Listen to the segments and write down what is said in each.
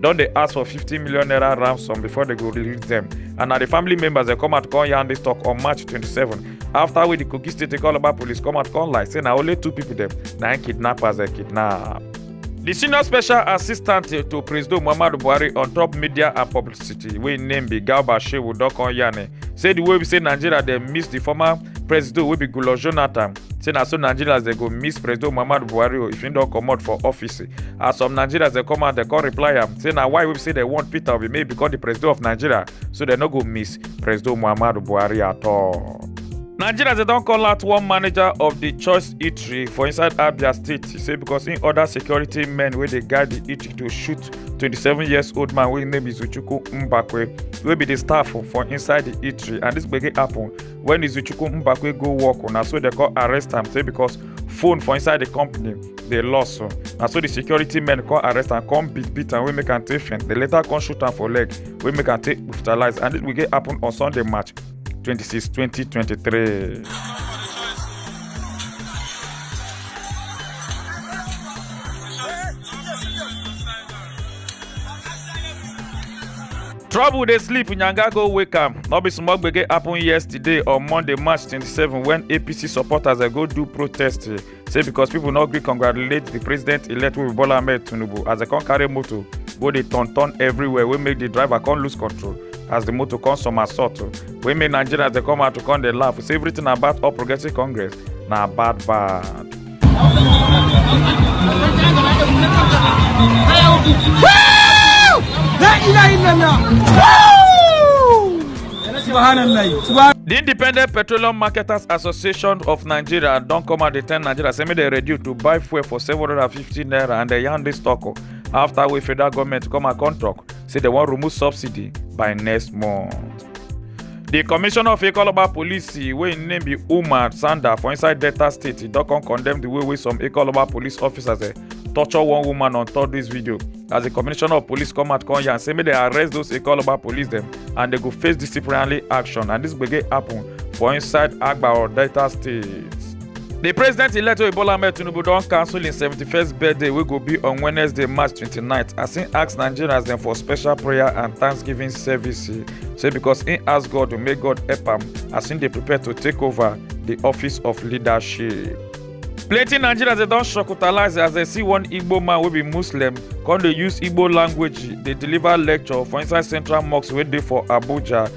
don dey ask for 50 million naira ransom before dem go release dem and na di family members dey come out come yarn dis tok on march 27 afta wey di kogi state calabar police come out come lie say na only two pipo dem na im kidnappers dem kidnap. di senior special assistant to president muhammadu buhari on top media and publicity wey im name be garba shehu don come yarn say di way be say nigeria dey miss di former president wey be goodluck jonathan say na so nigerians dey go miss president muhammadu buhari o if he don comot for office as some nigerians dey come out dey come reply am say na why we say dem want peter obi make become the president of nigeria so dem no go miss president muhammadu buhari at all. nigerians dey don call out one manager of di choice eatery for inside abia state say because im order security men wey dey guide di eatery to shoot 27 years old man wey im name be zuchukwu mbakwe wey be di staff for inside di eatery and dis gbege happun when izuchukwu mbakwe go work na so they come arrest am say because phone for inside the company dey lost so na so the security men come arrest am come beat beat am wey make am take faint they later come shoot am for leg wey make am take hospitalize and this will get happen on sunday march 26 2023. Trouble dey sleep, Nyanga go wake am. No be small gbege happen yesterday on Monday, March 27 when APC supporters dey go do protest eh, say because people no gree congratulate the president-elect wey be Bola Ahmed Tinubu as dem come carry motor go dey turn turn everywhere wey make the driver come lose control as the motor come somersault oh, wey make Nigerians dey come out to come dey laugh say everything about All Progressives Congress na bad bad. The Independent Petroleum Marketers Association of Nigeria don come out dey tell Nigeria say make dem reduce to buy fuel for 750 naira and dem yarn dis talk o after wey federal government come and come talk say dem wan remove subsidy by next month. di commissioner of ikoloba police wey im name be umar sanda for inside delta state don come condemn di way wey some ikoloba police officers eh, torture one woman on top dis video as di commissioner of police come out come yarn say make dem arrest those ikoloba police dem and dem go face disciplinary action and dis gbege happen for inside agbaor delta state. di president-elect bola ahmed tinubu don cancel im 71st birthday wey go be on wednesday march 29th as im ask nigerians dem for special prayer and thanksgiving service say because im ask god to make god help am as im dey prepare to take over di office of leadership. plenty nigerians dey don shocktalize as dem see one igbo man wey be muslim come dey use igbo language dey deliver lecture for inside central mosque wey dey for abuja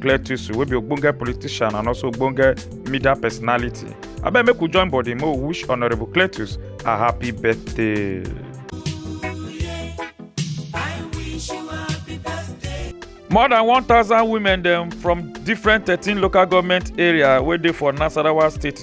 cletusu wey be ogbonge politician and also ogbonge media personality abeg make we join body make we wish honourable cletus a happy birthday. more than 1000 women dem from different 13 local goment area wey dey for nasarawa state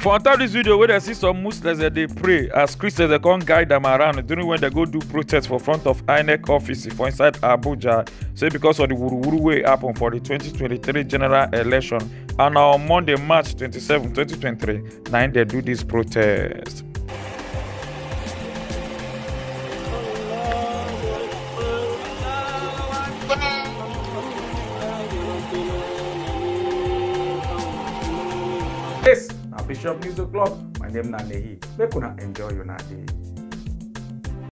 For on top this video wey dem see some Muslims dem dey pray as Christians dem come guide am around during when dem go do protest for front of INEC office for inside Abuja say because of the wuruwuru wey happen for the 2023 general election and na on Monday March 27, 2023 na im dem do this protest. This na Bishop News O'Clock. My name na Nehi. Make una enjoy una day.